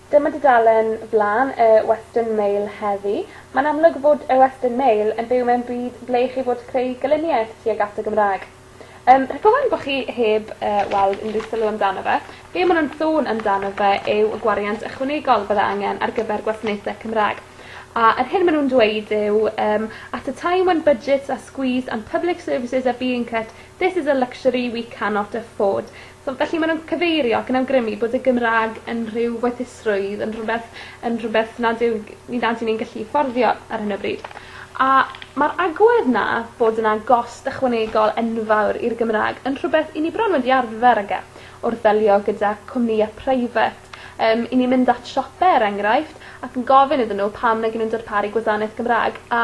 Dyma dudalen flaen y Western Mail heddi. Mae'n amlwg fod y Western Mail yn byw mewn byd ble ei chi fod creu gelyniaeth tuag at y Gymraeg. Yym rhag ofn bo' chi heb yy weld unrhyw sylw amdano fe be' ma' nw'n sôn amdano fe yw y gwariant ychwanegol bydde angen ar gyfer gwasanaethe Cymra'g. A yr hyn ma' nw'n dweud yw yym at a time when budgets are squeezed and public services are being cut this is a luxury we cannot afford. So felly ma' nw'n cyfeirio ac yn awgrymu bod y Gymra'g yn rhyw werthusrwydd yn rhwbeth yn rhwbeth nad yw g- ni nad 'yn ni'n gallu fforddio ar hyn o bryd. A ma'r agwedd 'na bod yna gost ychwanegol enfawr i'r Gymra'g yn rhwbeth 'yn ni bron wedi arfer ag e wrth ddelio gyda cwmnïe preifat. Yym 'yn ni'n mynd at siope er enghraifft ac yn gofyn iddyn n'w pam nag 'yn nw'n darparu gwadaneth Gymra'g a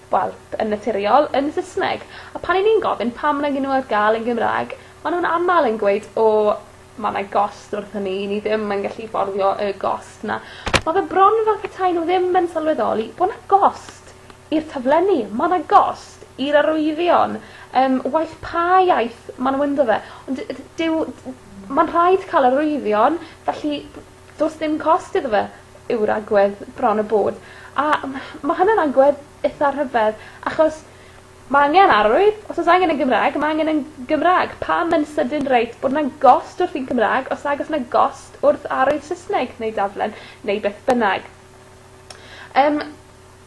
wel, yn naturiol, yn Sysneg. A pan 'yn ni'n gofyn pam nag 'yn n'w ar ga'l yn Gymra'g ma' nw'n amal yn gweud o ma' 'na gost wrth hynny i ni ddim yn gallu fforddio y gost 'na. Ma' fe bron fel petai n'w ddim yn sylweddoli bo' 'na gost i'r taflenni. Ma' 'na gost i'r arwyddion yym waeth pa iaith ma' n'w ynddo fe. Ond dy- dyw... Ma'n rhaid ca'l arwyddion felly Does dim cost iddo fe yw'r agwedd bron a bod a ma' ma' hwnna'n agwedd itha rhyfedd achos ma' angen arwydd os o's angen yn Gymraeg ma' angen yn Gymra'g pam yn sydyn reit bod 'na gost wrth un Cymra'g os nag o's 'na gost wrth arwydd Sysneg neu daflen neu beth bynnag. Yym.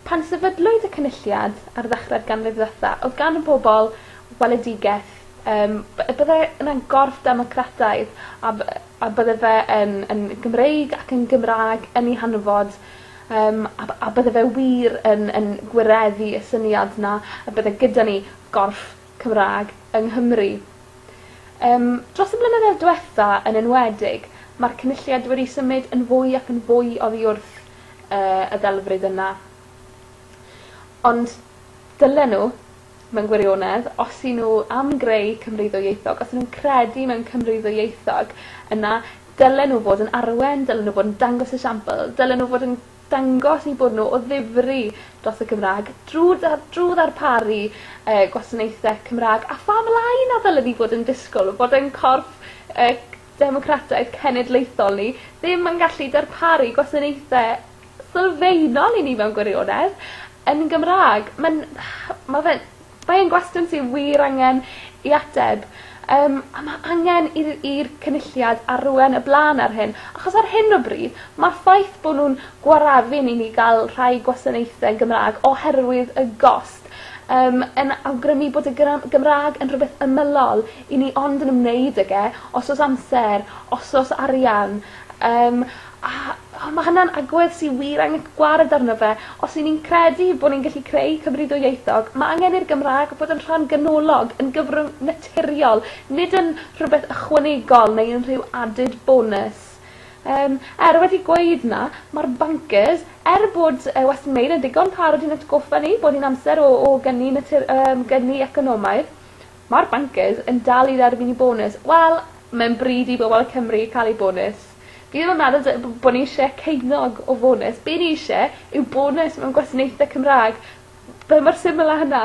Pan sefydlwyd y Cynulliad ar ddechrau'r ganrif ddwetha odd gan y bobol weledigeth yym b- y bydde yna gorff democrataidd a by- yy a bydde fe yn yn Gymreig ac yn Gymra'g yn 'i hanfod yym a by- a bydde fe wir yn yn gwireddu y syniad 'na y bydde gyda ni gorff Cymra'g yng Nghymru. Yym dros y blynyddoedd dwetha yn enwedig ma'r Cynulliad wedi symud yn fwy ac yn fwy oddi wrth yy y ddelfryd yna. Ond dylen n'w mewn gwirionedd os 'yn n'w am greu Cymru ddwyieithog os 'yn nw'n credu mewn Cymru ddwyieithog yna dylen n'w fod yn arwen dylen n'w bod yn dangos esiampl dylen n'w fod yn dangos eu bod n'w o ddifri dros y Gymra'g drw dar- drw ddarparu yy gwasanaethe Cymra'g a pha mlaen na ddylen ni fod yn disgwl fod ein corff yy democrataidd cenedlaethol ni ddim yn gallu darparu gwasanaethe sylfaenol i ni mewn gwirionedd yn Gymra'g. Ma'n ma' fe'n mae e'n gwestiwn sy wir angen 'i ateb yym a ma' angen i'r i'r Cynulliad arwen y bla'n ar hyn achos ar hyn o bryd ma'r ffaith bo' nw'n gwareddu'n i ni ga'l rhai gwasanaethe yn Gymra'g oherwydd y gost yym yn awgrymu bod y gyra- Gymra'g yn rhwbeth ymylol I ni ond yn ymwneud ag e os o's amser os o's arian yym a a ma' hwnna'n agwedd sy wir angen gwared arno fe os 'yn ni'n credu bo' ni'n gallu creu Cymru ddwyieithog ma' angen i'r Gymra'g bod yn rhan ganolog yn gyfrwng naturiol nid yn rhwbeth ychwanegol neu yn rhyw added bonus. Yym er wedi gweud 'na ma'r bancers er bod yy Western Mail yn ddigon parod i'n atgoffa ni bod hi'n amser o o gyni natur- yym gyni economaidd Ma'r bancers yn dal i dderbyn 'u bonws. Wel, mae'n bryd i bobol Cymru ca'l eu bonws. Fi ddim yn meddwl dy- b- bo' ni isie ceunog o fonus. Be' ni isie yw bonus mewn gwasanaethe Cymra'g. Be' mor syml â hynna.